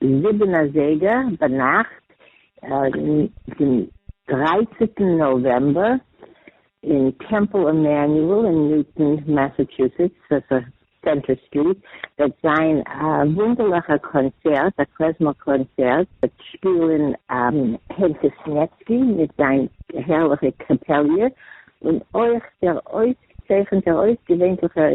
זיבן אזייגער ביינאכט דעם דרייצענטן נאוועמבער אין טעמפל עמעניועל אין ניוטאן מאסאטשוסעטס אויף סענטער סטריט וועט זיין א וואונדערליכער קאנצערט, א קלעזמער קאנצערט וועט שפילן הענטעס נעצקי מיט זיין הערליכע קעפעליע און אויך דער אויסגעצייכענטער אויסגעווענליכער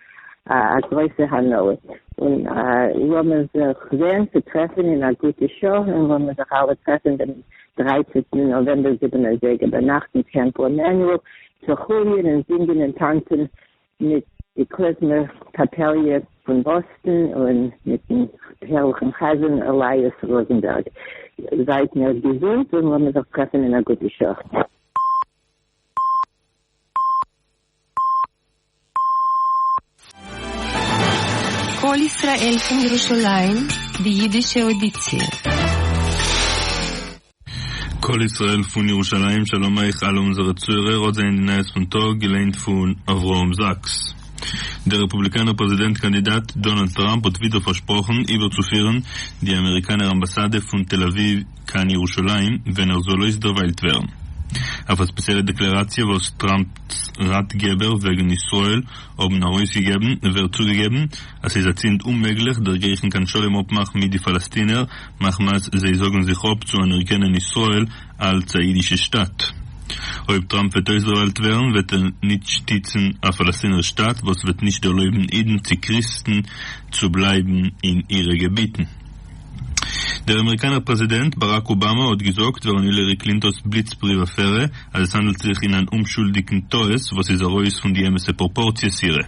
א גרויסע הנאה, און לאמיר זיך זעהן צו טרעפן אין א גוטע שעה, און לאמיר זיך אלע טרעפן דעם דרייצענטן נאוועמבער זיבן אזייגער ביינאכט אין טעמפל עמנואל צו חוליען און זינגען און טאנצען מיט די קלעזמער קאפעליע פון באסטן און מיטן הערליכן חזן אליאס ראזענבערג. זייט מיר געזונט און לאמיר זיך טרעפן אין א גוטע שעה. קול ישראל פון ירושלים, די אידישע אודיציע. קול ישראל פון ירושלים, שלום אייך אלע אונזערע צוהערער, אט זענען די נייעס פון טאג, געליינט פון אברהם זאקס. דער רעפובליקאנער פרעזידענט קאנדידאט דאנאלד טראמפ האט ווידער פארשפראכן איבערצופירן די אמעריקאנער אמבאסאדע פון תל אביב, קיין ירושלים ווען ער זאל אויסדערוויילט ווערן. אויף א ספעציעלע דעקלעראציע וואס טראמפ'ס ראטגעבער וועגן ישראל האבן ארויסגעגעבן ווערט צוגעגעבן אז ס'איז אצינד אוממעגליך דערגרייכן קיין שלום אפמאך מיט די פאלאסטינער מחמת זיי זאגן זיך אפ צו אנערקענען ישראל אלץ א אידישע שטאַט. אויב טראמפ וועט אויסדערוויילט ווערן וועט ער ניט שטיצן א פאלאסטינער שטאַט וואס וועט נישט ערלויבן אידן צי קריסטן צו בלייבן אין אירע געביטן. דער אמעריקאנער פרעזידענט באראק אובאמא האט געזאגט ווערן הילערי קלינטאן'ס בליץ פריוו אפערע אז עס האנדלט זיך אין אן אומשולדיגן טעות וואס איז ארויס פון די אמת'ע פראפארציעס אירע.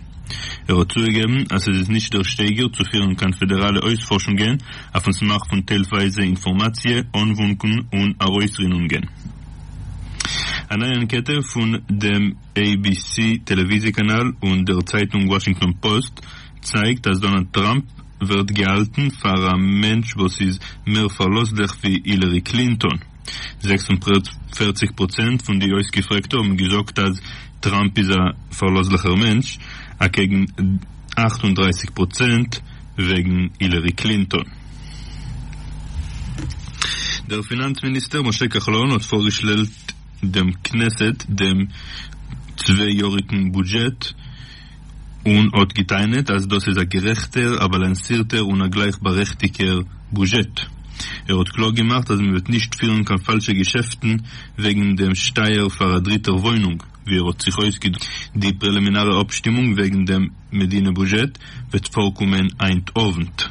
ער האט צוגעגעבן אז עס איז נישט דער שטייגער צו פירן קיין פעדעראלע אויספארשונגען אויפ'ן סמך פון טיילווייזע אינפארמאציע אנוואונקן און ארויסרינונגען. א נייע אנקעטע פון דעם עי בי סי טעלעוויזיע קאנאל און דער צייטונג וואשינגטאן פאוסט צייגט אז דאנאלד טראמפ ווערט געהאלטן פאר א מענטש וואס איז מער פארלאזליך ווי הילערי קלינטאן. זעקס און פֿערציק פראצענט פון די אויסגעפרעגטע האבן געזאגט אז טראמפ איז א פארלאזליכער מענטש, אקעגן אַכט און דרײַסיק פראצענט וועגן הילערי קלינטאן. דער פינאנץ מיניסטער משה כחלון האט פארגעשלעלט דעם כנסת דעם צוויי יאריגן בודזשעט, און האט געטענה'ט אז דאס איז א גערעכטער, א באלאנסירטער און א גלייכבארעכטיגער בוזשעט. ער האט קלאר געמאכט אז מען וועט נישט פירן קיין פאלשע געשעפטן וועגן דעם שטייער פאר א דריטער וואוינונג, ווי ער האט זיך אויסגעדרוקט. די פרעלימינארע אפשטימונג וועגן דעם מדינה בוזשעט וועט פארקומען היינט אוונט.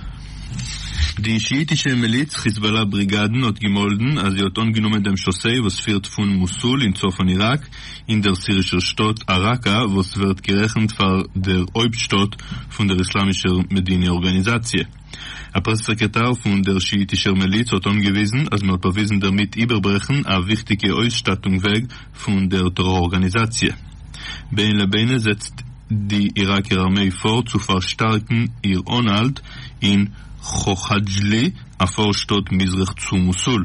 די שיאיטישע מיליץ חיזבאלא בריגאדן האט געמאלדן אז זי האט אנגענומען דעם שאסיי וואס פירט פון מוסול אין צפון איראק אין דער סירישער שטאט אראקא, וואס ווערט גערעכנט פאר דער הויפטשטאט פון דער איסלאמישער מדיני ארגאניזאציע. א פרעס סעקרעטאר פון דער שיאיטישער מיליץ האט אנגעוויזן אז מען האט באוויזן דערמיט איבערברעכן א וויכטיגע אויסשטאטונג וועג פון דער טעראר ארגאניזאציע. בין לבינה זעצט די איראקער ארמעי פאר צו פארשטארקן איר אנהאלט אין חאכאדזשלי, א פארשטאט מזרח צו מוסול.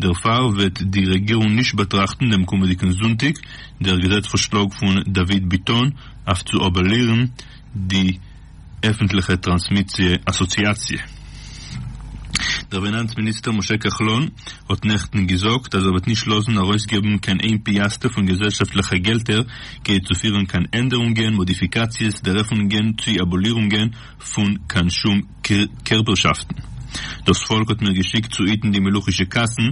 דערפאר וועט די רעגירונג נישט באטראכטן דעם קומעדיגן זונטאג דער געזעץ פארשלאג פון דוד ביטון אויף צו אבאלירן די עפנטליכע טראנסמיסיע אסאציאציע. דער פינאנץ מיניסטער משה כחלון האט נעכטן געזאגט אז ער וועט נישט לאזן ארויסגעבן קיין איין פיאסטע פון געזעלשאפטליכע געלטער כדי צו פירן קיין ענדערונגען, מאדיפיקאציעס, דערעפענונגען צי אבאלירונגען פון קיין שום קערפערשאפטן. דאס פאלק האט מיר געשיקט צו היטן די מלוכישע קאסן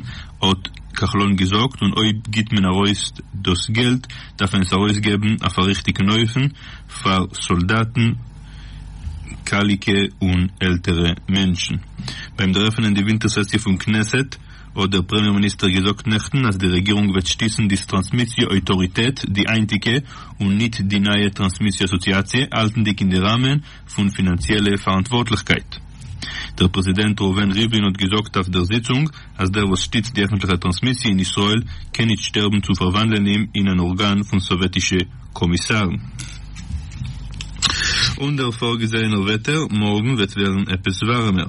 האט כחלון געזאגט, און אויב גיבט מען ארויס דאס געלט דארף מען עס ארויסגעבן אויף א ריכטיגן אופן פאר סאלדאטן, קאליקע און עלטערע מענטשן. ביים דערעפענען די ווינטער סעסיע פון כנסת האט דער פרעמיער מיניסטער געזאגט נעכטן אז די רעגירונג וועט שטיצן די סטראנסמיסיע אויטאריטעט, די היינטיגע, און ניט די נייע טראנסמיסיע אסאציאציע, האלטנדיג אין די ראמען פון פינאנציעלע פאראנטווארטליכקייט. דער פרעזידענט ראובן ריבלין האט געזאגט אויף דער זיצונג אז דער וואס שטיצט די עפנטליכע טראנסמיסיע אין ישראל קען ניט שטערבן צו פארוואנדלען אים אין אן ארגאן פון סאוועטישע קאמיסארן. און דער פארגעזעהענער וועטער מארגן וועט ווערן עפעס ווארעמער.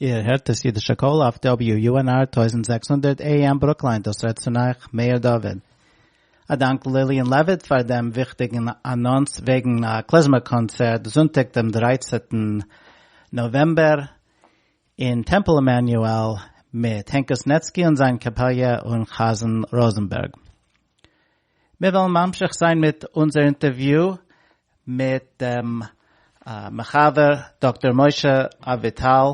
איר הערט דאס אידישע קול אויף WUNR טויזנט זעקס הונדערט AM ברוקליין דאס רעדט צו אייך מאיר דוד. א דאנק ליליאן לעוויט פאר דעם וויכטיגן אנאנס וועגן א קלעזמער קאנצערט זונטאג דעם דרייצענטן נאוועמבער אין טעמפל עמנואל מיט הענק קוסנעצקי און זיין קאפעליע און חזן ראזענבערג. מיר וועלן ממשיך זיין מיט אונזער אינטערוויו מיט דעם מחבר דאקטאר משה אביטל,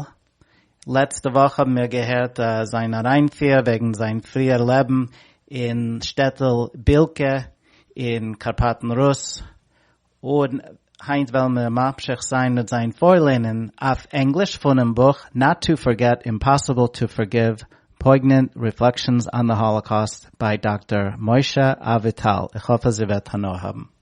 לעצטע וואך האבן מיר געהערט זיין אריינפיר וועגן זיין פריער לעבן אין שטעטל בילקע אין קארפאטן רוס, און היינט וועלן מיר ממשיך זיין מיט זיין פארלערנען אויף ענגליש פונעם בוך Not to Forget, Impossible to Forgive, Poignant Reflections on the Holocaust ביי דאקטאר משה אביטל, איך האף אז איר וועט הנאה האבן.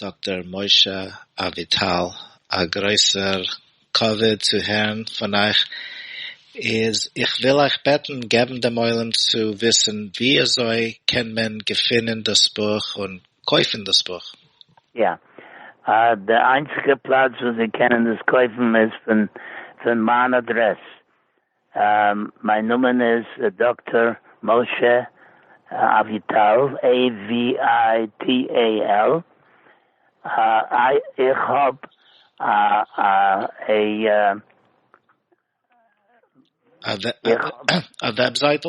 דאקטאר משה אביטל, א גרויסער כבוד צו הערן פון אייך, איז איך וויל אייך בעטן געבן דעם עולם צו וויסן ווי אזוי קען מען געפינען דאס בוך און קויפן דאס בוך. יא. די איינציגע פלאץ וואס זיי קענען עס קויפן איז פון מיין אדרעס. מיין נאמען איז דאקטאר משה אביטל, AVITAL, איך האב א. א וועבזייטל?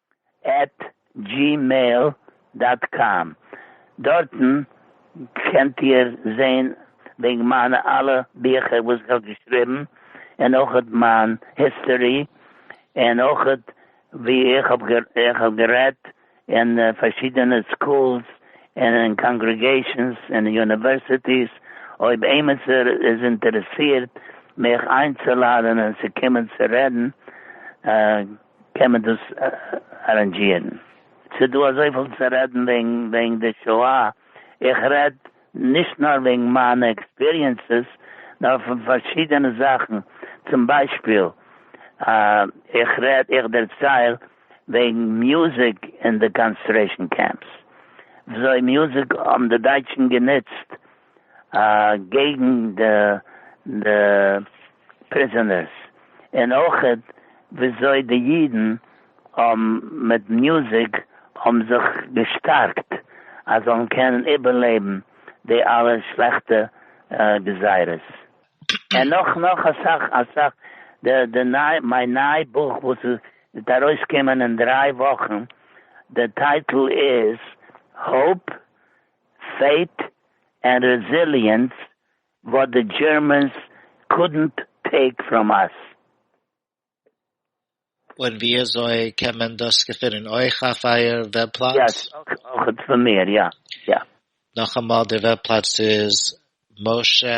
עט דזשימעיל דאט קאם, דארטן קענט איר זעהן וועגן מיינע אלע ביכער וואס איך האב געשריבן, און אויכעט מיין היסטארי, און אויכעט ווי איך האב גערעדט אין פארשידענע סקולס און אין קאנגרעגעישאנס און אין יוניווערסיטיס, אויב עימיצער איז אינטערעסירט מיך איינצולאדענען צו קומען צו רעדן. קען מען דאס ארענדזשירן? ס'איז דא אזויפיל צו רעדן וועגן די שואה, איך רעד נישט נאר וועגן מיינע עקספיריענסעס, נאר פון פארשידענע זאכן, צום ביישפיל איך רעד, איך דערצייל וועגן מוזיק אין די קאנצטרעישן קעמפס, וויאזוי מוזיק האבן די דייטשן גענוצט, אקעגן די פריזאנערס, און אויך וויאזוי די אידן מיט מוזיק האבן זיך געשטארקט אז זאלן קענען איבערלעבן די אלע שלעכטע גזירות, און נאך נאך אסאך אסאך, די ניי מיין ניי בוך וואס וועט ארויסקומען אין דריי וואכן, די טייטל איז האופ פייט ענד רעזיליענס וואט די דזשערמענס קודנט טעיק פראם אס. און וויאזוי קען מען דאס געפינען אויך אויף אייער וועב פלאץ? יעס, אויך פון מיר, יא יא. נאכאמאל, דער וועב פלאץ איז משה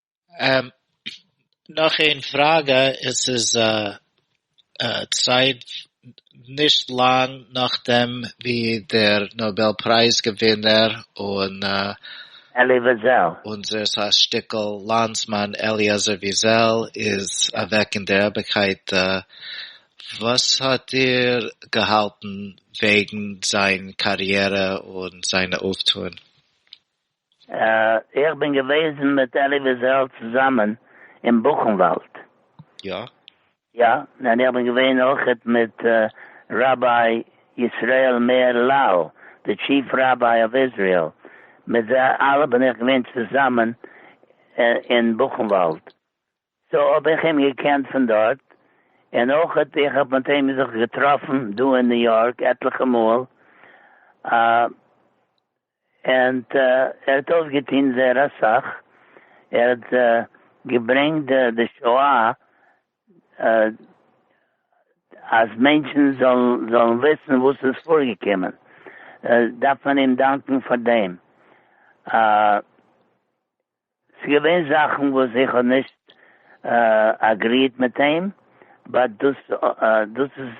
נאך איין פראגע, עס איז צייט נישט לאנג נאכדעם ווי דער נאבעל פרייז געווינער און אונזער ס ה שטיקל לאנדסמאן אליעזר וויזעל איז אוועק אין דער אייביגקייט, וואס האט איר געהאלטן וועגן זיין קאריערע און זיינע אויפטוען? איך בין געוועזן מיט אלי וויזעל צוזאמען אין בוכנוואלד. יא? יא, און איך בין געווען אויך מיט ראביי ישראל מאיר לאו, די טשיף ראביי אוו איזריעל, מיט זיי אלע בין איך געווען צוזאמען אין בוכנוואלד, סאו האב איך אים געקענט פון דארט, און אויך איך האב מיט אים זיך געטראפן דא אין ניו יארק עטליכע מאל, ענד ער האט אויפגעטוהן זייער אסאך, ער האט געברענגט די שואה אז מענטשן זאלן וויסן וואס איז פארגעקומען, דארף מען אים דאנקן פאר דעם. ס'געווען זאכן וואס איך האב נישט אגריעט מיט אים, באט דאס דאס איז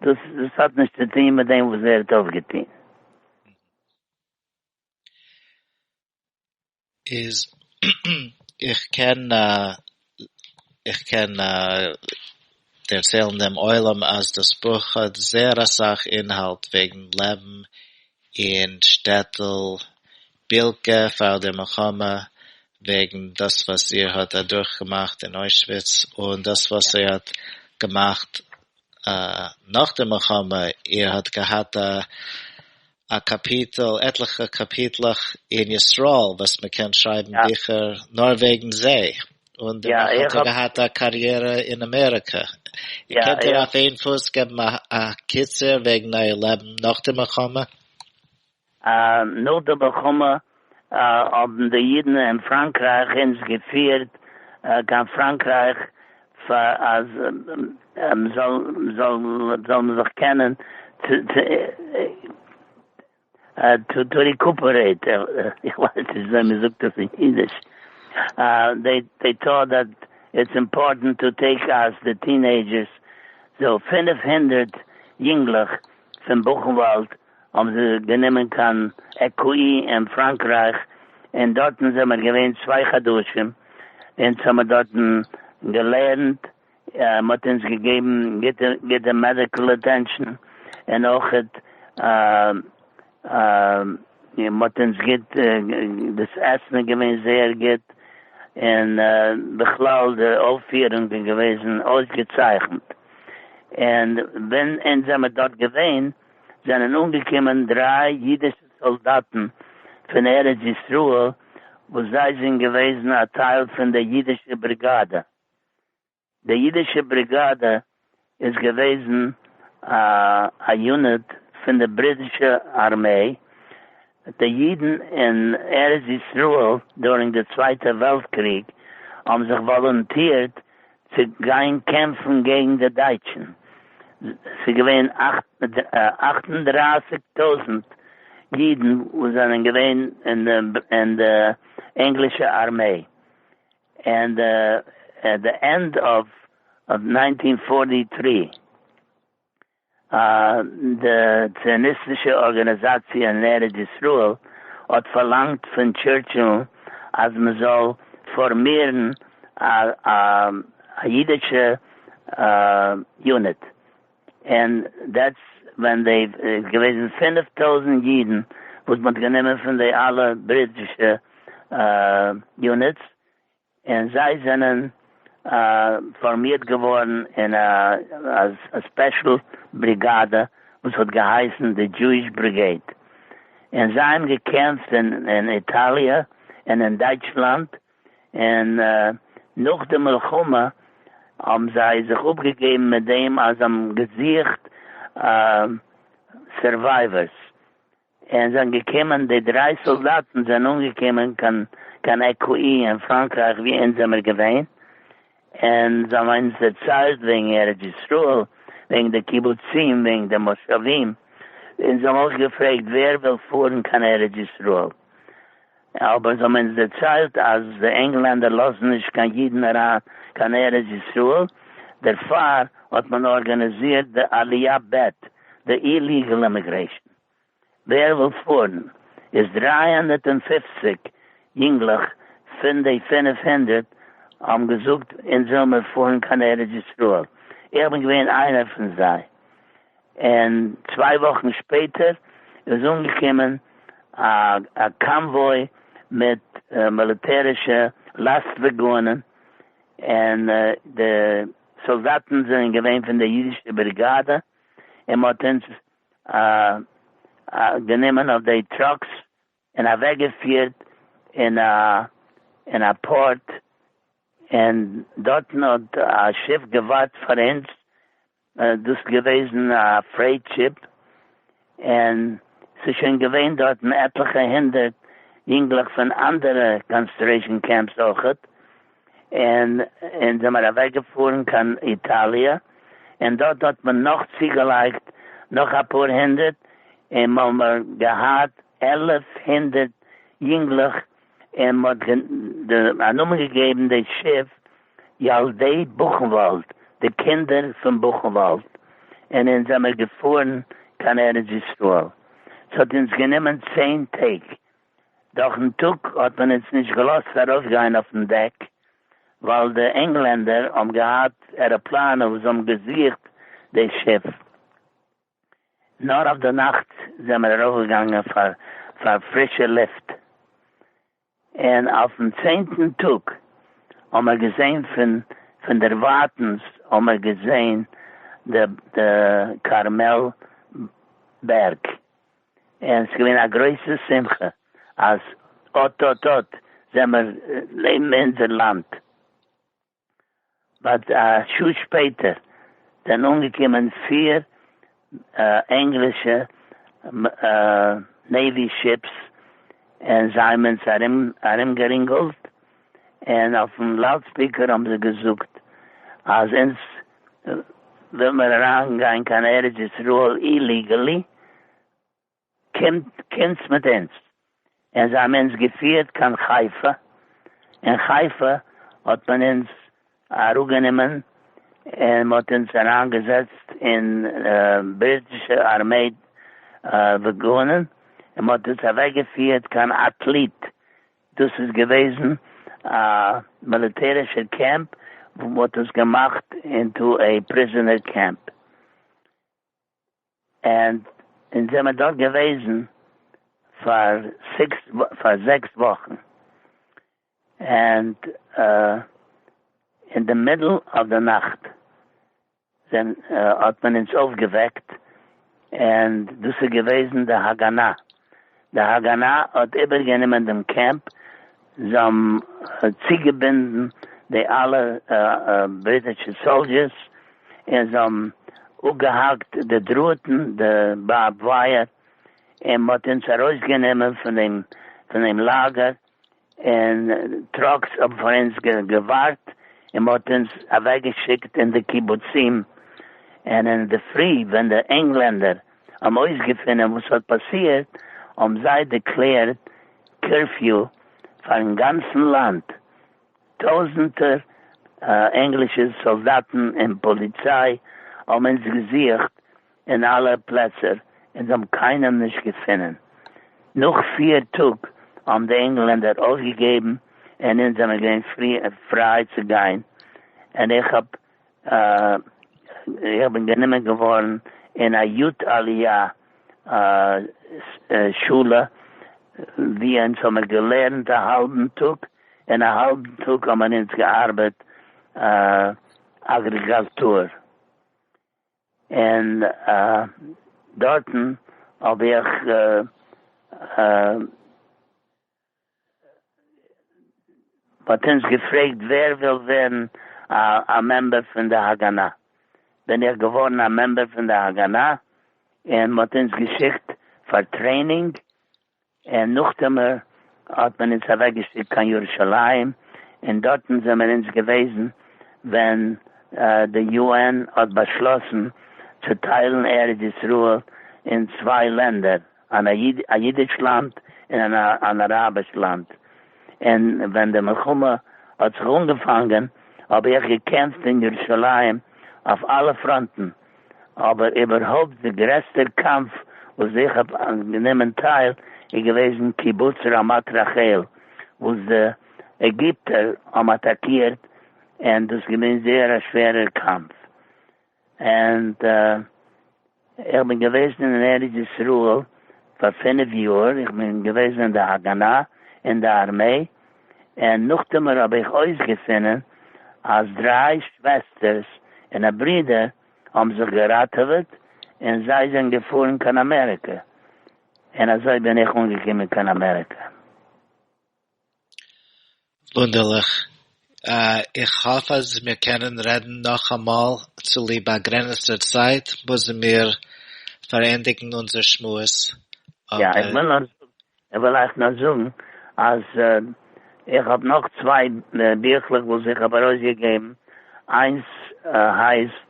דאס דאס האט נישט צו טוהן מיט דעם וואס ער האט אויפגעטוהן. איז איך קען איך קען דערציילן דעם עולם אז דאס בוך האט זייער אסאך אינהאלט וועגן לעבן אין שטעטל בילקע פאר די מלחמה, וועגן דאס וואס איר האט אדורכגעמאכט אין אוישוויץ און דאס וואס איר האט געמאכט נאך די מלחמה, איר האט געהאט א א קאפיטל, עטליכע קאפיטלעך אין ישראל וואס מען קען שרייבן ביכער נאר וועגן זיי, און דערנאך האט ער געהאט א קאריערע אין אמעריקע. קענט איר אויף איין פוס געבן א קיצור וועגן אייער לעבן נאך די מלחמה? נאך די מלחמה האבן די אידן אין פראנקרייך אונז געפירט קיין פראנקרייך פאר אז מ'זאל זיך קענען טו ריקופערעיט, איך ווייס נישט וויאזוי מ'זאגט דאס אין אידיש, דעי טאט דעט איטס אימפארטענט טו טעיק אוט די טינעידזשערס, סאו פֿינף הונדערט יונגלעך פון בוכנוואלד האבן זיי גענומען קיין עקאי אין פראנקרייך און דארטן זעמער געווען צוויי חדשים, אונז האמער דארטן געלערנט, מ'האט אונז געגעבן גוטע גוטע מעדיקל אטענשאן און אויכעט מ'האט אונז גוט, דאס עסן איז געווען זייער גוט און בכלל די אויפפירונג איז געוועזן אויסגעצייכנט און ווען אונז זעמער דארט געווען, זענען אנגעקומען דריי אידישע סאלדאטן פון ארץ ישראל וואס זיי זענען געוועזן א טייל פון די אידישע בריגאדע. די אידישע בריגאדע איז געוועזן א יוניט פון די בריטישע ארמעי די ייִדן אין ארץ-ישׂראל דורינג די צווייטע וועלט קריג האָבן זיך וואָלונטירט צו גיין קעמפֿן געגן די דייטשן. ס'איז געווען אַכט און דרײַסיק טויזנט ייִדן וואָס זענען געווען אין דער ענגלישער אַרמעי. אין די ענד אָוו נײַנטין פֿאָרטי טרי. א. די ציוניסטישע ארגאניזאציע אין ארץ ישראל האט פארלאנגט פון טשורטשיל אז מען זאל פארמירן א אידישע יוניט, און דעטס ווען דעי איז געוועזן פֿינף טויזנט אידן וואס מען האט גענומען פון די אלע בריטישע יוניטס, און זיי זענען פארמירט געווארן אין א ספעשל בריגאדע וואס האט געהייסן די דזשואיש בריגעיד, און זיי האבן געקעמפט אין איטאליע און אין דייטשלאנד, און נאך די מלחמה האבן זיי זיך אפגעגעבן מיט דעם אז זיי האבן געזוכט סורווייווערס, און זענען געקומען, די דריי סאלדאטן זענען אנגעקומען קיין קיין עקאי אין פראנקרייך ווי אונז זעמיר געווען, און זיי האבן אונז דערציילט וועגן ארץ ישראל, וועגן די קיבוצים, וועגן די מושבים, און זיי האבן אויך געפרעגט ווער וויל פארן קיין ארץ ישראל, אבער זיי האבן אונז דערציילט אז די ענגלענדער לאזן נישט קיין אידן אריין קיין ארץ ישראל, דערפאר האט מען ארגאניזירט די עליה ב', די איליגעל אימיגרעישן. ווער וויל פארן? איז דרײַ הונדערט און פֿופֿציק יונגלעך פון די פֿינף הונדערט האבן געזאגט אונז וויל מיר פארן קיין ארץ ישראל, איך בין געווען איינער פון זיי, און צוויי וואכן שפעטער איז אנגעקומען א קאנוואוי מיט מיליטערישע לאסט וואגאנען, און די סאלדאטן זענען געווען פון די אידישע בריגאדע, און מען האט אונז גענומען אויף די טראקס און אַװעקגעפֿירט אין אַ אין אַ פּאָרט, און דאָרטן האָט אַ שיף געװאַרט פֿאַר אונדז, דאָס איז געװעזן אַ פֿרעיט שיף, און ס'איז שױן געװען דאָרטן עטלעכע הונדערט ייִנגלעך פֿון אַנדערע קאָנסטרעישאָן קעמפּס אױכעט. און אונז זעמער אוועק געפארן קיין איטאליע און דארט האט מען נאך צוגעלייגט נאך אפאר הונדערט און מ'האמער געהאט עלף הונדערט יונגלעך און מ'האט א נאמען געגעבן די שיף ילדי בוכנוואלד די קינדער פון בוכנוואלד און אונז זעמער געפארן קיין ארץ ישראל ס'האט אונז גענומען צען טעג דורכ'ן טאג האט מען אונז נישט געלאזט ארויפגיין אויפ'ן דעק, ווייל די ענגלענדער האבן געהאט עראפלאנען וואס האבן געזוכט די שיף. נאר אויף די נאכט זעמער ארויפגעגאנגען פאר פאר פרישע לופט. און אויפ'ן צענטן טאג האמער געזען פון פון דערווייטענס האמער געזען די די כרמל בערג. און ס'איז געווען א גרויסע שמחה אז אט אט אט זעמער לעבן אין אונזער לאנד. באט א שעה שפעטער זענען אנגעקומען פיר ענגלישע נעיווי שיפס און זיי האבן אונז ארומגערינגלט און אויפן לאודספיקער האבן זיי געזאגט אז אונז וויל מען אריין גיין קיין ארץ ישראל איליגעלי קומטס מיט אונז, און זיי האבן אונז געפירט קיין חיפה, אין חיפה האט מען אונז אראפגענומען און מען האט אונז אריין געזעצט אין בריטישע ארמעי וואגאנען און מען האט אונז אוועק געפירט קיין אטליט דאס איז געוועזן א מיליטערישער קעמפ וואו מען האט עס געמאכט אינטו עי פריזענער קעמפ ענד אונז זעמער דארט געוועזן פאר סיקס פאר זעקס וואכן ענד אין די מידל אוו די נאכט דען האט מען אונז אויפגעוועקט און דאס איז געוועזן די הגנה, די הגנה האט איבערגענומען דעם קעמפ, זיי האבן צוגעבינדן די אלע בריטישע סאלדשערס און זיי האבן אפגעהאקט די דראטן, די בארבד ווייער, און מען האט אונז ארויסגענומען פון דעם לאגער, און טראקס האבן פאר אונז געווארט און מען האט אונז אוועק געשיקט אין די קיבוצים, און אין די פרי ווען די ענגלענדער האבן אויסגעפינען וואס האט פאסירט האבן זיי דעקלערט קורפיו פארן גאנצן לאנד, טויזענטער ענגלישע סאלדאטן און פאליציי האבן אונז געזוכט אין אלע פלעצער און האבן קיינעם נישט געפונען. נאך פיר טאג האבן די ענגלענדער אויפגעגעבן און אונז זענען געווען פריי צו גיין און איך האב איך בין גענומען געווארן אין א יו ט עליה שולע ווי אונז האמיר געלערנט א האלבן טאג און א האלבן טאג האמיר אונז געארבעט אגריגאלטור. און דארטן האב איך מ'האט אונז געפרעגט ווער וויל ווערן א מעמבער פון די הגנה, בין איך געווארן א מעמבער פון די הגנה, און מ'האט אונז געשיקט פאר טרעינינג און נאכדעם האט מען אונז אוועקגעשיקט קיין ירושלים, און דארטן זעמער אונז געוועזן ווען די יו-ען האט באשלאסן צו טיילן ארץ ישראל אין צוויי לענדער, אן א אידיש לאנד און אן אראביש לאנד, און ווען די מלחמה האט זיך אנגעפאנגען האב איך געקעמפט אין ירושלים אויף אלע פראנטן. אבער איבערהויפט די גרעסטער קאמף וואס איך האב גענומען טייל איז געוועזן קיבוץ רמת רחל וואס די עגיפטער האבן אטאקירט און דאס איז געווען זייער א שווערער קאמף און איך בין געוועזן אין ארץ ישראל פאר פֿינף יאר איך בין געוועזן אין די הגנה אין די ארמעי און נאכדערמאט האב איך אויסגעפונען אז דריי שוועסטערס און א ברודער האבן זיך געראטעוועט און זיי זענען געפארן קיין אמעריקא, און אזוי בין איך אנגעקומען קיין אמעריקא. וואונדערליך. איך האף אז מיר קענען רעדן נאכאמאל, צוליב באגרעניצטער צייט מוזן מיר פארענדיגן אונזער שמועס, אבער. יא, איך וויל נאר זאגן כ'וועל אייך נאר זאגן אז איך האב נאך צוויי ביכלעך וואס איך האב ארויסגעגעבן, איינס הייסט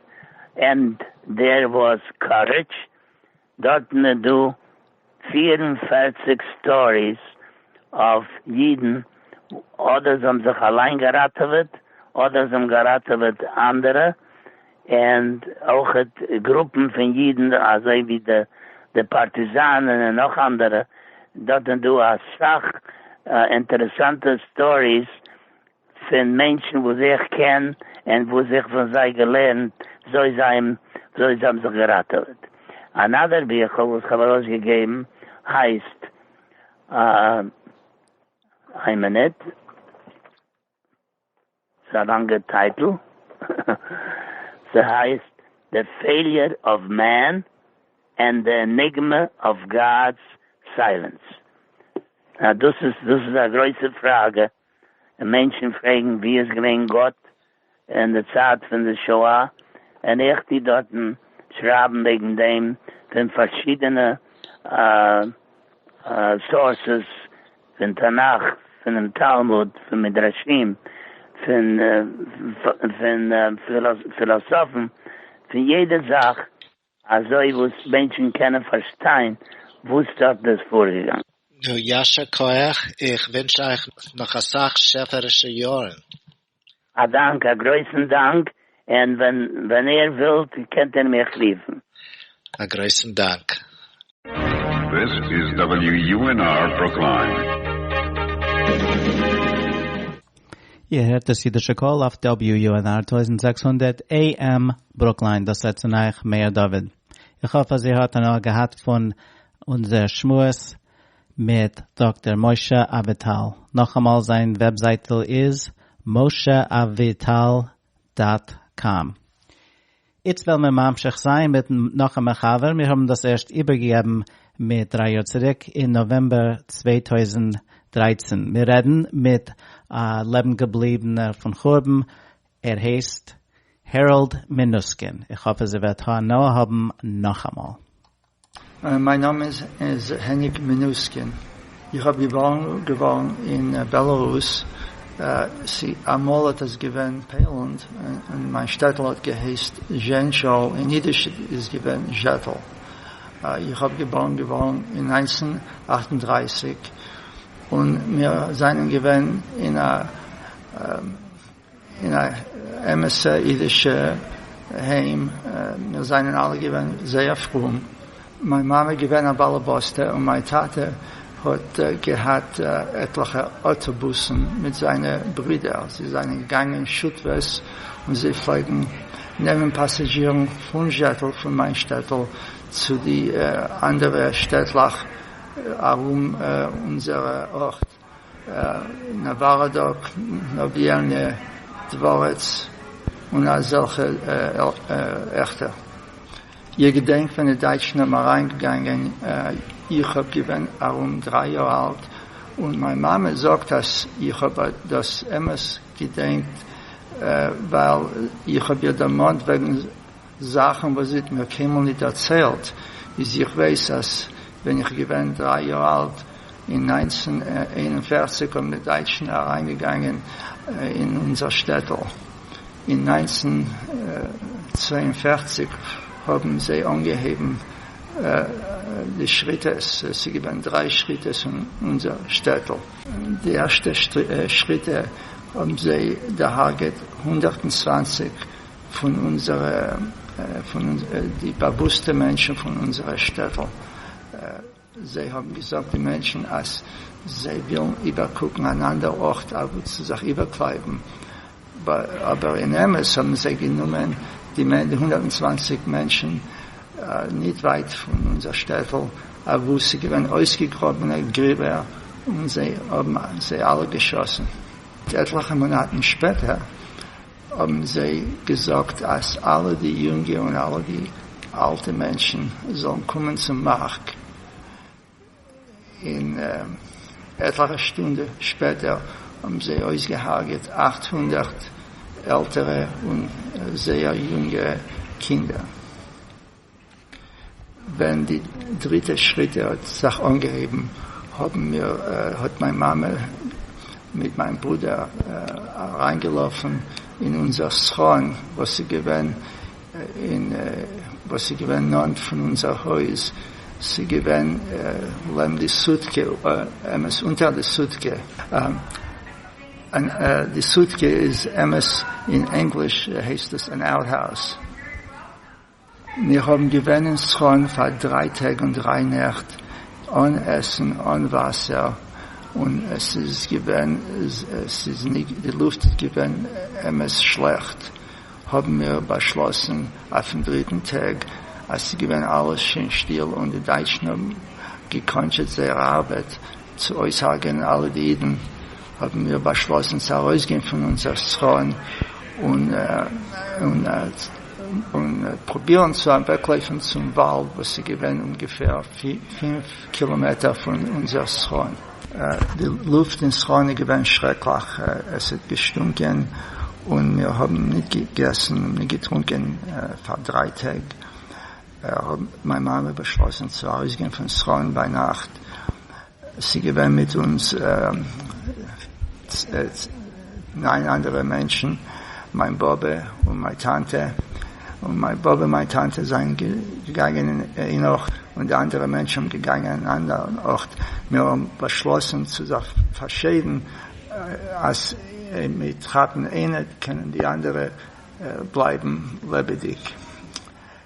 ענד דער וואס קארעדזש, דארטן איז דא פֿיר און פֿערציק סטאריס אויף אידן אדער זיי האבן זיך אליין געראטעוועט אדער זיי האבן געראטעוועט אנדערע, און אויכעט גרופן פון אידן אזוי ווי די פארטיזאנען און נאך אנדערע, דארט איז דא אסאך אינטערעסאנטע סטאריס פון מענטשן וואס איך קען און וואס איך פון זיי געלערנט וויאזוי זיי האבן זיך געראטעוועט. אנאדער ביכל וואס איך האב ארויסגעגעבן הייסט, איין מינוט. ס'איז א לאנגע טייטל. ס'הייסט The Failure of Man and the Enigma of God's Silence. אה, דאס איז, דאס איז א גרויסע פראגע. און מענטשן פרעגן וואו איז געווען גאט אין די צייט פון די שואה. און איך טו דארטן שרייבן וועגן דעם פון פארשידענע סאורסעס. פון תנך, פונעם תלמוד, פון מדרשים, פון פון פילאסאפן, פון יעדע זאך אזוי וואס מענטשן קענען פארשטיין וואס דארט איז פארגעגאנגען. נו יישר כח, איך ווינטש אייך נאך אסאך שעפערישע יארן. א דאנק, א גרויסן דאנק, און ווען איר ווילט קענט איר מיך רופן. א גרויסן דאנק. This is WUNR Brooklyn. איר הערט דאס אידישע קול אויף WUNR טויזנט זעקס הונדערט AM ברוקליין, דאס רעדט צו אייך מאיר דוד. איך האף אז איר האט הנאה געהאט פון אונזער שמועס. מיט דאקטער משה אביטל, נאכאמאל זיין וועבזייטל איז mosheavital דאט קאם. איצט וועלן מיר ממשיך זיין מיט נאך א מחבר, מיר האבן דאס ערשט איבערגעגעבן מיט דריי יאר צוריק אין נאוועמבער צוויי טויזנט דרײַצן, מיר רעדן מיט א לעבן געבליבענער פון חורבן, ער הייסט העראלד מינוסקין, איך האף אז ער וועט הנאה האבן נאכאמאל. מיין נאמען איז העניק מינוסקין, איך האב געבארן געווארן אין בעלארוס, אמאל האט עס געווען פעלענד, און מיין שטעטל האט געהייסט זשענטשאל, אין אידיש איז געווען זשעטל, איך האב געבארן געווארן אין נײַנצן אַכט און דרײַסיק, און מיר זענען געווען אין א. אין א אמת'ע אידישע היים, מיר זענען אלע געווען זייער פרום, מיין מאמע איז געווען א באלעבאסטע און מיין טאטע האט געהאט עטליכע אויטאבוסן מיט זיינע ברידער, זיי זענען געגאנגען שותפות און זיי פלעגן נעמען פאסאזשירן פון זשעטל פון מיין שטעטל צו די אנדערע שטעטלעך ארום אונזער ארט. נאוואראדאק, נאוויעלנע דווארעץ און אזעלכע עכטע. איך געדענק ווען די דייטשן האבן אריינגעגאנגען, איך האב געווען ארום דריי יאר אלט, און מיין מאמע זאגט אז איך האב דאס אמת געדענקט ווייל איך האב איר דערמאנט וועגן, זאכן וואס זי האט מיר קיינמאל ניט דערציילט איז, איך ווייס אז ווען איך געווען דריי יאר אלט אין נײַנצן איין און פֿערציק האבן די דייטשן אריינגעגאנגען אין אונזער שטעטל, אין נײַנצן צוויי און פֿערציק האבן זיי אנגעהויבן די שריטעס, עס איז געווען דריי שריטעס און אונזער שטעטל. די ערשטע שריטע האבן זיי דערהארגעט הונדערט און צוואַנציק פון אונזערע, פון די באוואוסטע מענטשן פון אונזערע שטעטל, זיי האבן געזאגט די מענטשן אז זיי ווילן איבערקוקן אן אנדער ארט אוואו צו זיך איבערקלייבן, אבער אין אמת האבן זיי גענומען די הונדערט און צוואנציג מענטשן ניט ווייט פון אונזער שטעטל אוואו ס'איז געווען אויסגעגראבענע גריבער און זיי האבן זיי אלע געשאסן. עטליכע מאנאטן שפעטער האבן זיי געזאגט אז אלע די יונגע און אלע די אלטע מענטשן זאלן קומען צום מארק, און עטליכע שטונדע שפעטער האבן זיי אויסגעהארגעט אַכט הונדערט עלטערע און זייער יונגע קינדער. ווען די דריטע שחיטה האט זיך אנגעהויבן האבן מיר, האט מיין מאמע מיט מיין ברודער אריינגעלאפן אין אונזער סכון וואס איז געווען אין וואס איז געווען נאנט פון אונזער הויז, ס'איז געווען לעבן די סוטקע, אמת אונטער די סוטקע, די סוטקע איז אמת אין ענגליש הייסט עס אן אוטהאוז. מיר האבן געווען אין סכנ פאר דריי טעג און דריי נעכט אן עסן אן וואסער און עס איז געווען עס איז די לופט איז געווען אמת שלעכט האבן מיר באשלאסן אויפן דריטן טעג אז ס'איז געווען אלעס שוין שטיל און די דייטשן האבן געקאנטשעט זייער ארבעט צו אויסהארגענען אלע די אידן האבן מיר באשלאסן צו ארויסגיין פון אונזער סכנ און און פרובירן צו אוועקלויפן צום וואלד וואס איז געווען אומגעפער פֿינף קילאמעטער פון אונזער שכן. די לופט אין שכן איז געווען שרעקליך, עס האט געשטונקען און מיר האבן ניט געגעסן און ניט געטרונקען פאר דריי טעג, האט מיין מאמע באשלאסן צו ארויסגיין פון שכן ביינאכט, ס'געווען מיט אונז נײַן אנדערע מענטשן, מיין באבע און מיין טאנטע, און מיין באבע און מיין טאנטע זענען געגאנגען אין איין ארט, און די אנדערע מענטשן האבן געגאנגען אין אן אנדערן ארט, מיר האבן באשלאסן צו זיך פארשיידן אז מיט כאפן איינע קענען די אנדערע בלייבן לעבעדיג.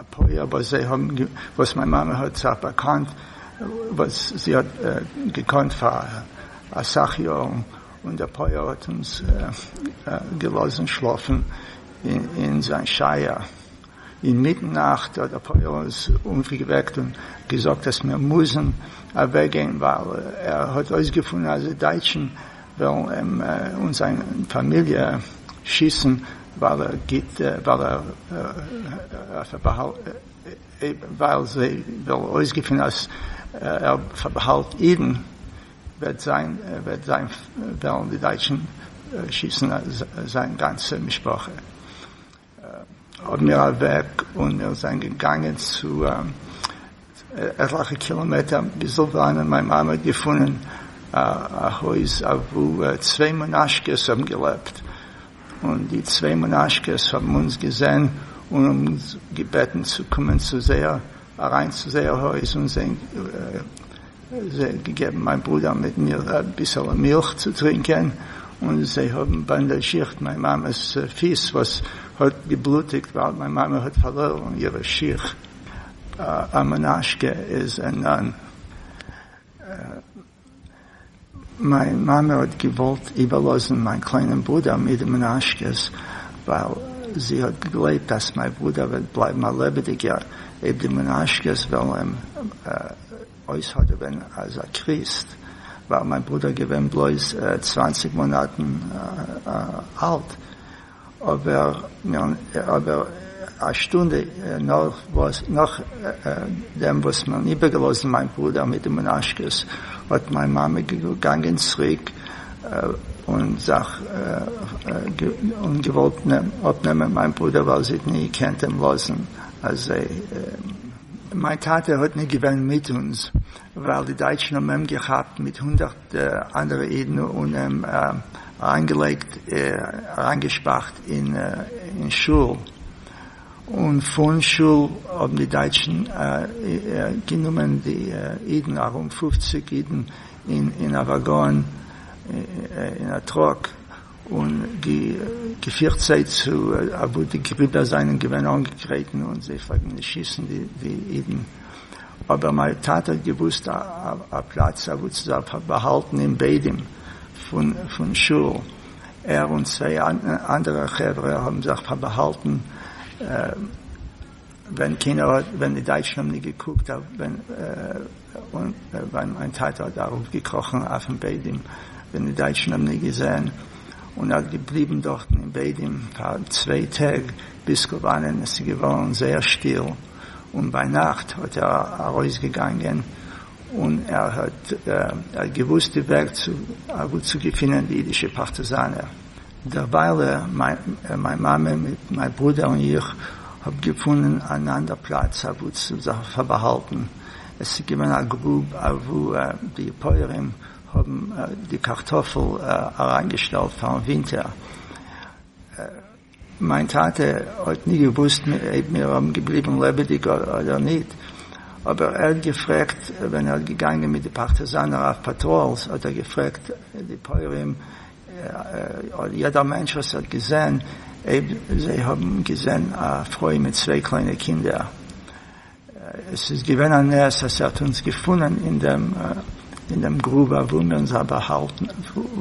אפי' אבער זיי האבן וואס מיין מאמע האט זיך באקאנט וואס זי האט געקאנט פאר אסאך יארן און דער פויער האט אונז געלאזן שלאפן אין זיין שייער אינמיטן נאכט האט דער פויער אונז אויפגעוועקט און געזאגט אז מיר מוזן אוועקגיין ווייל ער האט אויסגעפונען אז די דייטשן וועלן אים און זיין פאמיליע שיסן ווייל ער גיט ווייל זיי וועלן אויסגעפינען אז ער פארבאהאלט אידן וועט זיין וועלן די דייטשן שיסן זיין גאנצע משפחה האבן מיר אוועק און מיר זענען געגאנגען צו עטליכע קילאמעטער ביזל וואנען מיין מאמע האט געפונען א הויז אוואו צוויי מנשקעס האבן געלעבט און די צוויי מנשקעס האבן אונז געזען און האבן אונז געבעטן צו קומען צו זייער אריין צו זייער הויז און זיי געגעבן מיין ברודער מיט מיר אביסעלע מילך צו טרינקען, און זיי האבן באנדאזשירט מיין מאמע'ס פיס וואס האט געבלוטיגט ווייל מיין מאמע האט פארלוירן אירע שיך. א מנשקע איז א נאן. מיין מאמע האט געוואלט איבערלאזן מיין קליינעם ברודער מיט מנשק'ס, ווייל זי האט געגלייבט אז מיין ברודער וועט בלייבן א לעבעדיגער אויב די מנשק'ס וועלן אים אויסהאדעווען אלס א קריסט, ווייל מיין ברודער געווען בלויז צוואַנציק מאנאטן אלט. אבער א שטונדע נאכדעם וואס מען האט איבערגעלאזט מיין ברודער מיט די מנשק'ס, האט מיין מאמע געגאנגען צוריק און זיך און געוואלט אפנעמען מיין ברודער ווייל זי האט נישט געקענט אים לאזן אזוי. מיין טאטע האט נישט געווען מיט אונז ווייל די דייטשן האבן אים געכאפט מיט הונדערט די אנדערע אידן און אים אריינגעלייגט אריינגעשפארט אין שול און פון שול האבן די דייטשן גענומען די אידן ארום פופציג אידן אין א וואגאן אין א טראק. און די געפירט זיי צו אוואו די גריבער זיינען געווען אנגעגרעטן און זיי פלעגן נישט שיסן די אידן אבער מיין טאטע האט געוואוסט א פלאץ אוואו צו זיי באהאלטן אין בעדים פון שול ער און צוויי אנדערע חברה האבן זיך פארבאהאלטן ווען קיינער האט ווען די דייטשן האבן נישט געקוקט ווען און ווען מיין טאטע האט אראפגעקראכן אויפן בעדעם ווען די דייטשן האבן אים געזען, און ער האט געבליבן דארטן אין בעדעם פאר צוויי טעג ביז כוואנען עס איז געווארן זייער שטיל, און ביינאכט האט ער ארויסגעגאנגען, און ער האט געוואוסט די וועג צו וואו צו געפינען די אידישע פארטיזאנער. דערווייל ער, מיין מאמע, מיט מיין ברודער און איך האב געפונען אן אנדער פלאץ אוואו צו זיך פארבאהאלטן. עס איז געווען א גרוב אוואו די פויערים האבן די קארטאפל אריינגעשטעלט פאר'ן ווינטער. מיין טאטע האט נישט געוואוסט אויב מיר האבן געבליבן לעבעדיג אדער ניט, אבער ער האט געפרעגט, ווען ער האט געגאנגען מיט די פארטיזאנער אויף פאטראלס האט ער געפרעגט די פויערים, אויב יעדער מענטש וואס האט געזען, אויב זיי האבן געזען א פרוי מיט צוויי קליינע קינדער, עס איז געווען א נס אז ער האט אונז געפונען אין דעם אין דעם גרוב אוואו מיר זיין באהאלטן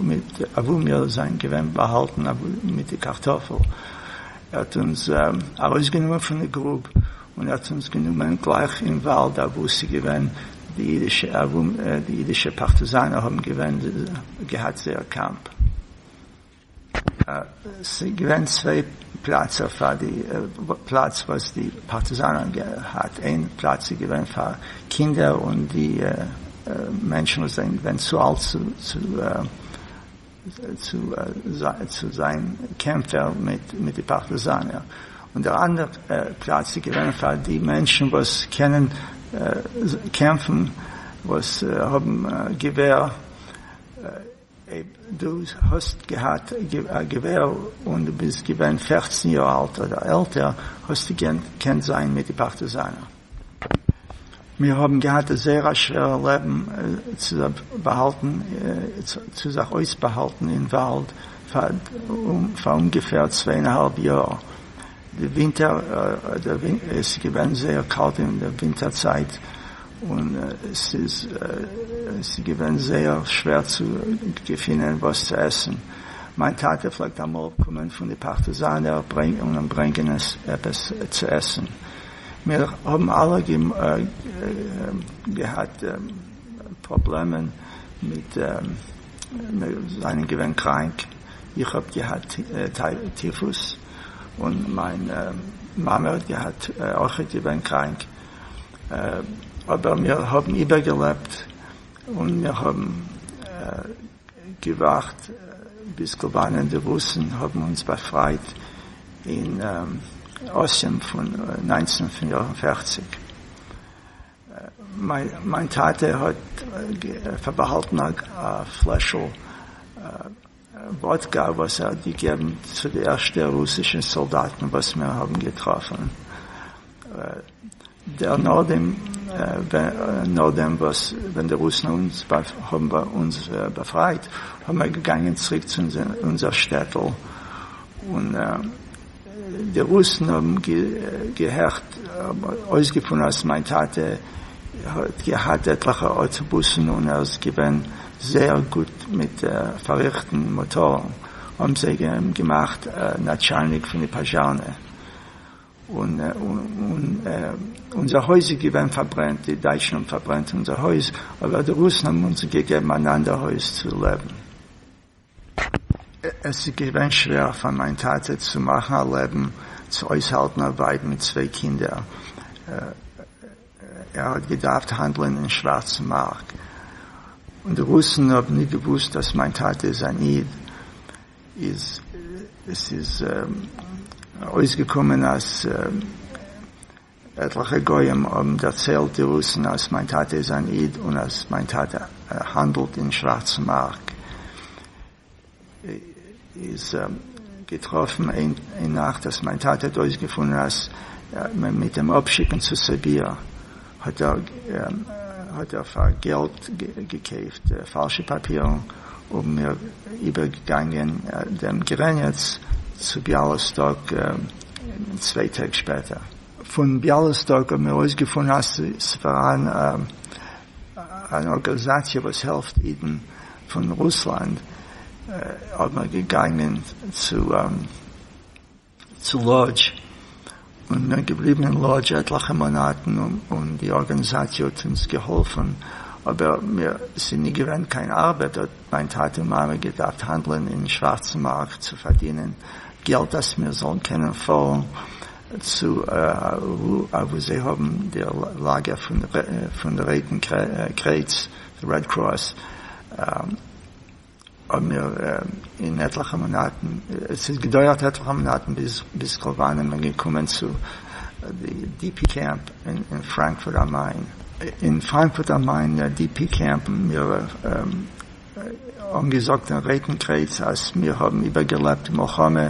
מיט אוואו מיר זיין געווען באהאלטן מיט די קארטאפל, ער האט אונז ארויסגענומען פון די גרוב און ער האט אונז גענומען גלייך אין וואלד אוואו ס'איז געווען די אידישע ארומ די אידישע פארטיזאנער האבן געווען געהאט זייער קאמפ ס'געווען צוויי פלאצער פאר די פלאץ וואס די פארטיזאנער האבן געהאט איין פלאץ איז געווען פאר קינדער און די מענטשן וואס זענען געווען צו אלט צו צו זיין קעמפער מיט די פארטיזאנער, און דער אנדער פלאץ איז געווען פאר די מענטשן וואס קענען קעמפן, וואס האבן געווער, אויב דו האסט געהאט א געווער און דו ביסט געווען פֿערצן יאר אלט אדער עלטער, האסטו געקענט זיין מיט די פארטיזאנער. מיר האבן געהאט זייער א שווערע לעבן צו זיך באהאלטן צו זיך אויסבאהאלטן אין וואלד פאר אומגעפער צוויי און א האלב יאר, די ווינטער איז געווען זייער קאלט אין די ווינטער צייט און ס'איז געווען זייער שווער צו געפינען וואס צו עסן, מיין טאטע פלעגט אמאל קומען פון די פארטיזאנער און ברענגען עפעס צו עסן. מיר האבן אלע געהאט פראבלעמען מיט, מיר זענען געווען קראנק, איך האב געהאט טיפוס, און מיין מאמע האט געהאט, אויכעט געווען קראנק, אבער מיר האבן איבערגעלעבט, און מיר האבן. געווארט ביז קובאנע און די רוסן האבן אונז באפרייט אין אסיען פון נײַנצן פֿיר און פֿערציק. מיין טאטע האט פארבאהאלטן א פלעשל וואדקע וואס ער האט געגעבן צו די ערשטע רוסישע סאלדאטן וואס מיר האבן געטראפן. דער נאָכדעם, נאָכדעם וואָס ווען די רוסן האָבן אונדז באַפֿרײַט, האָבן מיר געגאַנגען צוריק צו אונדזער שטעטל, און די רוסן האָבן געהערט, האָבן אויסגעפֿונען, אַז מײַן טאַטע האָט געהאַט עטלעכע אויטאָבוסן און ער איז געווען זייער גוט מיט פֿאַרריכטן מאָטאָרן, האָבן זיי אים געמאַכט נאַטשאַלניק פֿון די פּאַזשאַרנע. און אונזער הויז איז געווען פארברענט, די דייטשן האבן פארברענט אונזער הויז, אבער די רוסן האבן אונז געגעבן אן אנדער הויז צו לעבן. עס איז געווען שווער פאר מיין טאטע צו מאכן א לעבן, צו אויסהאלטן א ווייב מיט צוויי קינדער. ער האט געדארפט האנדלען אין שווארצן מארק, און די רוסן האבן ניט געוואוסט אז מיין טאטע איז אן איד, איז עס איז אויסגעקומען אז עטליכע גויים האבן דערציילט די רוסן אז מיין טאטע איז אן איד און אז מיין טאטע האנדלט אין שווארצן מארק, איז געטראפן איין נאכט אז מיין טאטע האט אויסגעפונען אז מיט דעם אפשיקן צו סיביר האט ער פאר געלט געקויפט פאלשע פאפירן און מיר איבערגעגאנגען דעם גרעניץ צו ביאלאסטאק צוויי טעג שפעטער. פון ביאלאסטאק האבן מיר אויסגעפונען אז ס'פארהאן אן ארגאנזאציע וואס העלפט אידן פון רוסלאנד האט מען געגאנגען צו צו לאדזש און מיר געבליבן אין לאדזש עטליכע מאנאטן און די ארגאניזאציע האט אונז געהאלפן אבער מיר ס'איז נישט געווען קיין ארבעט האט מיין טאטע און מאמע געדארפט האנדלען אין שווארצן מארק צו פארדינען געלט אז מיר זאלן קענען פארן צו אוואו זיי האבן די לאגער פון די רויטן קרעץ. רעד קראס האבן מיר אין עטליכע מאנאטן, עס האט געדויערט עטליכע מאנאטן ביז כלבאן איז מען געקומען צו די די פי קעמפ אין פראנקפורט אן מיין. אין פראנקפורט אן מיין די פי קעמפ האבן מיר אנגעזאגט אין רויטן קרעץ אז מיר האבן איבערגעלעבט די מלחמה,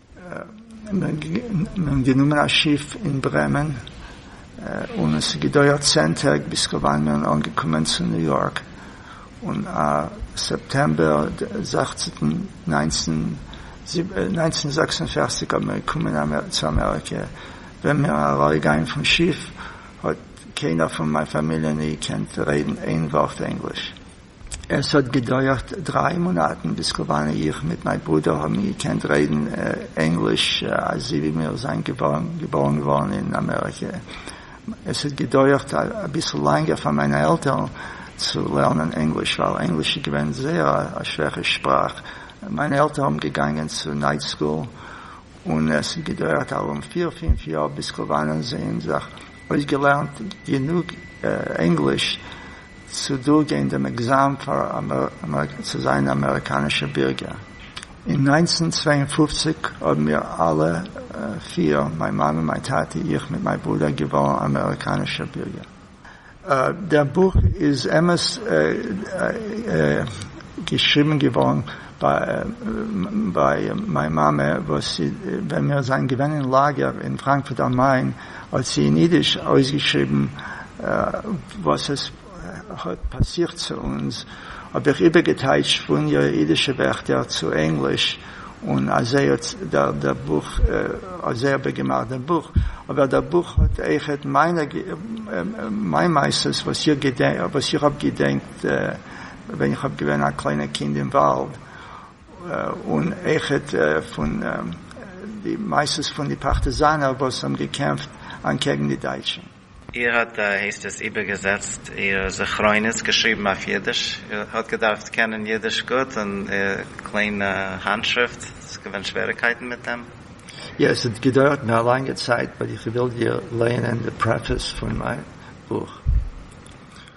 און גענומען א שיף אין ברעמען, און עס איז געדויערט צען טעג ביז כבין מיר אנגעקומען צו ניו יארק, און א סעפטעמבער זעכצעטן נײַנצן הונדערט זעקס און פֿערציק האבן מיר געקומען צו אמעריקע, ווען מיר און ארויס גיין פון שיף האט קיינער פון מיין פאמיליע ניט געקענט רעדן איין ווארט ענגליש. עס האט געדויערט דריי מאנאטן ביז כוואנע איך מיט מיין ברודער האבן געקענט רעדן ענגליש אזוי ווי מיר זענען געבוירן געווארן אין אמעריקע. עס האט געדויערט אביסל לענגער פאר מיינע עלטערן צו לערנען ענגליש ווייל ענגליש איז געווען זייער א שווערע שפראך. מיינע עלטערן האבן געגאנגען צו נייט סקול און עס האט געדויערט ארום פיר פינף יאר ביז כוואנען זיי האבן זיך אויסגעלערנט גענוג ענגליש. צו דורכגיין דעם עקזאם פאר צו זיין א אמעריקאנישע בירגער. אין נײַנצן צוויי און פֿופֿציק האבן מיר אלע פיר, מיין מאמע, מיין טאטע, איך מיט מיין ברודער, געווארן אמעריקאנישע בירגער. דער בוך איז אמת געשריבן געווארן ביי מיין מאמע וואס ווען מיר זענען געווען אין לאגער אין פראנקפורט אן מיין. האט זי אין אידיש אויסגעשריבן וואס עס האט פאסירט צו אונז, האב איך איבערגעטייטשט פון איר אידישע ווערטער צו ענגליש, און אזוי האט דער בוך, אזוי האב איך געמאכט דעם בוך, אבער דער בוך האט אויכעט מיין מעשות וואס איך האב געדענקט ווען איך האב געווען א קליינע קינד אין וואלד, און איכעט פון די מעשות פון די פארטיזאנער וואס האבן געקעמפט אנטקעגן די דייטשן. איר האט הייסט עס איבערגעזעצט איר זכרונות געשריבן אויף אידיש, איר האט געדארפט קענען אידיש גוט און קליינע האנטשריפט, ס'איז געווען שוועריקייטן מיט דעם? יא, עס האט געדויערט מיר א לאנגע צייט, באט איך וויל דיר לייענען די פרעפעס פון מיין בוך.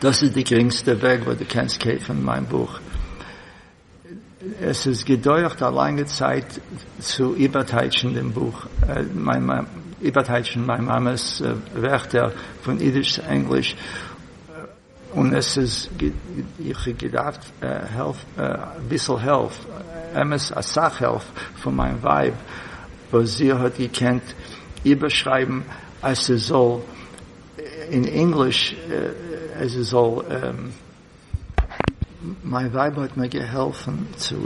דאס איז די גרינגסטע וועג וואס דו קענסט קויפן מיין בוך. עס איז געדויערט א לאנגע צייט צו איבערטייטשן דעם בוך, איבערטייטשן מיין מאמע'ס ווערטער פון אידיש צו ענגליש, און עס איז איך האב געדארפט העלפ, אביסל העלפ, אמת אסאך העלפ, פון מיין ווייב, וואס זי האט געקענט איבערשרייבן אז ס'זאל אין ענגליש אז עס זאל. מיין ווייב האט מיר געהאלפן צו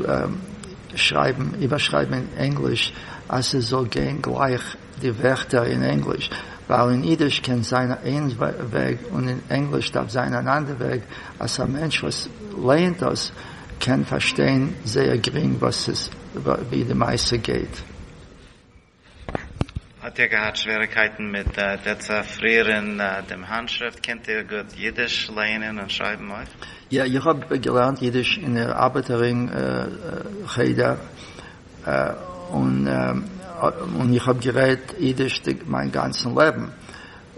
שרייבן איבערשרייבן אין ענגליש אז עס זאל גיין גלייך די ווערטער אין ענגליש, ווייל אין אידיש קען זיין איין וועג און אין ענגליש דארף זיין אן אנדער וועג אז א מענטש וואס לייענט דאס קען פארשטיין זייער גרינג וואס עס ווי די מעשה גייט. האט איר געהאט שוועריקייטן מיט דעצעפרירען דעם האנטשריפט? קענט איר גוט אידיש לייענען און שרייבן אויך? יא, איך האב געלערנט אידיש אין דער ארבעטער רינג חדר, און איך האב גערעדט אידיש מיין גאנצן לעבן,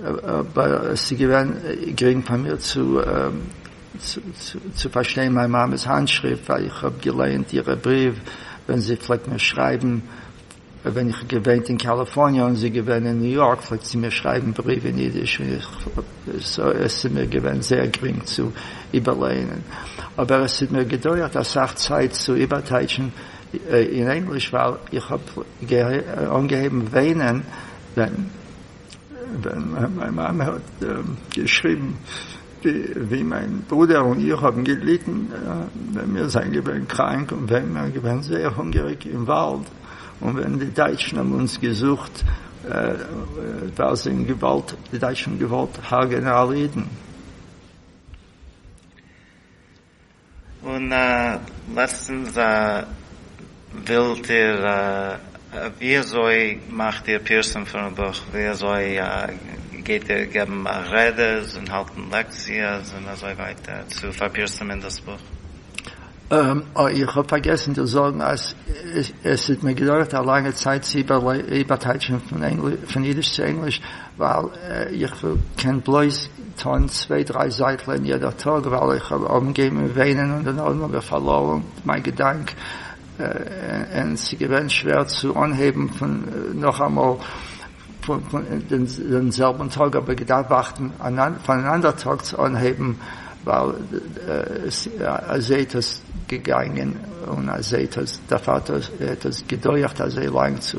אבער עס איז געווען גרינג פאר מיר צו פארשטיין מיין מאמע'ס האנטשריפט, ווייל איך האב געלייענט אירע בריוו ווען זי פלעגט מיר שרייבן ווען איך האב געוואינט אין קאליפארניע און זי געווען אין ניו יארק פלעגט זי מיר שרייבן בריוו אין אידיש און איך סאוי עס איז מיר געווען זייער גרינג צו איבערלייענען אבער עס האט מיר געדויערט אסאך צייט צו איבערטייטשן אין ענגליש ווייל איך האב אנגעהויבן וויינען ווען מיין מאמע האט געשריבן ווי מיין ברודער און איך האבן געליטן ווען מיר זענען געווען קראנק און ווען מיר געווען זייער הונגעריג אין וואלד און ווען די דייטשן האבן אונז געזוכט ווייל זיי האבן געוואלט די דייטשן האבן געוואלט הרג'נען אלע אידן. און לעצטנס ווילט איר ווי אזוי מאכט איר פירסום פונעם בוך ווי אזוי גייט איר געבן רעדעס און האלטן לעקציעס און אזוי ווייטער צו פארפירסומען דאס בוך? אוי איך האב פארגעסן דיר זאגן אז עס האט מיר געדויערט א לאנגע צייט צו איבערטייטשן פון אידיש צו ענגליש, ווייל איך קען בלויז טון צוויי דריי זייטלען יעדער טאג וועל איך אנגעבן וויינען און דערנאך האב איך פארלוירן מיין געדאנק און ס'איז געווען שווער צו אנהייבן פון נאכאמאל דעם זעלבן טאג אבער געדארפט ווארטן פאר אן אנדער טאג צו אנהייבן ווייל אזוי האט עס געגאנגען און אזוי האט עס געדויערט אזוי לאנג צו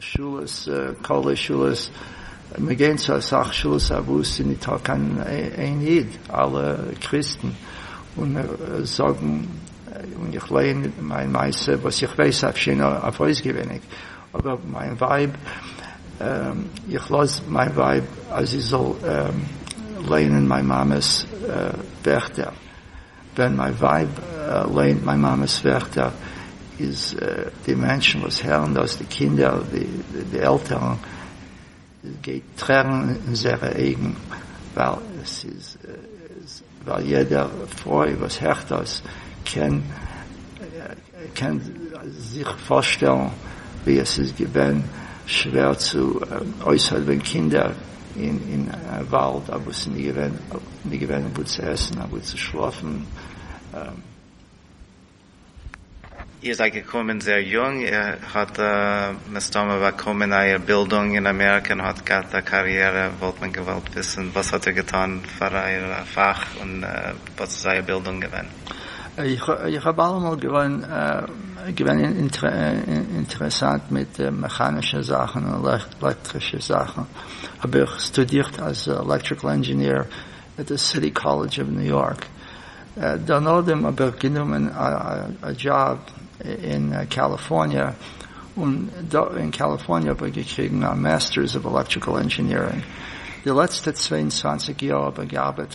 שאלות, קאווע שאלות, מיר גייען צו אסאך שאלות אויף וואס ס'איז ניטא קיין איין איד, אלע קריסטן, און מיר זאגן, און איך לייען מיין מעשה וואס איך ווייס אויף שיין אויף אויסגעוויניג, אבער מיין ווייב, איך לאז מיין ווייב אז זי זאל לייענען מיין מאמע'ס ווערטער. ווען מיין ווייב ליינט מיין מאמע'ס ווערטער איז די מענטשן וואס הערן דאס, די קינדער, די עלטערן, גייט טרערן אין זייערע אייגן, ווייל עס איז, ווייל יעדע פרוי וואס הערט דאס קען. איר קענט זיך פארשטעלן ווי עס איז געווען שווער צו אויסהאדעווען קינדער אין וואלד, אוואו עס איז נישט געווען וואו צו עסן, אוואו צו שלאפן. איר זייט געקומען זייער יונג, איר האט מסתמא באקומען אייער בילדונג אין אמעריקע און האט געהאט א קאריערע, וואלט מען געוואלט וויסן וואס האט איר געטאן פאר אייער פאך און וואס איז אייער בילדונג געווען? איך האב אלעמאל געוואן געווען אינטערעסאנט מיט מעכאנישע זאכן און לעקטרישע זאכן, האב איך סטודירט אלס עלעקטריקל ענדזשיניר אין די סיטי קאלעדזש אוו ניו יארק, דערנאדעם האב איך גענומען א דזשאב אין קאליפארניע, און דא אין קאליפארניע האב איך געקריגן א מעסטערס אוו עלעקטריקל ענדזשינירינג, די לעצטע צוויי און צוואַנציק יאר האב איך געארבעט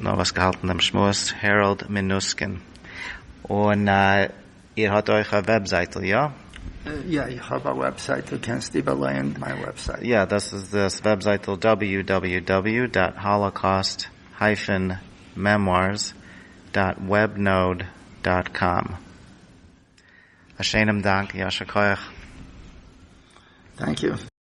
נאר וואס געהאלטן דעם שמועס העראלד מינוסקין. און איר האט אויך א וועבזייטל, איא? יא, איך האב א וועבזייטל, קענסט איבערלייען מיין וועבזייט. יא, דאס איז דאס וועבזייטל דאבעליו דאבעליו דאבעליו דאט האלאקאוסט הייפען מעמוארס דאט וועב נאוד דאט קאם. א שענעם דאנק, ישר כח. טענק יו.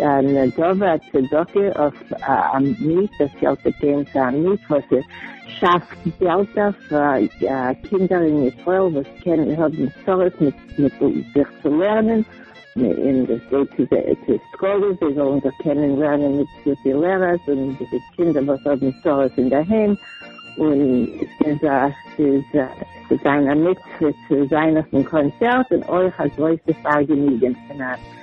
א נדבה, א צדקה, אויף א מת, דאס געלט וועט גיין צו א מת וואס שאפט געלטער פאר קינדער אין ישראל וואס קען האבן צרות מיט זיך צו לערנען, און דאס גייט צו די סקולעס זיי זאלן זיך קענען לערנען מיט גוטע לערערס, און די קינדער וואס האבן צרות אינדערהיים, און ס'איז א ס'וועט זיין א מצוה צו זיין אויפן קאנצערט, און אויך א גרויסע פארגעניגען פון א.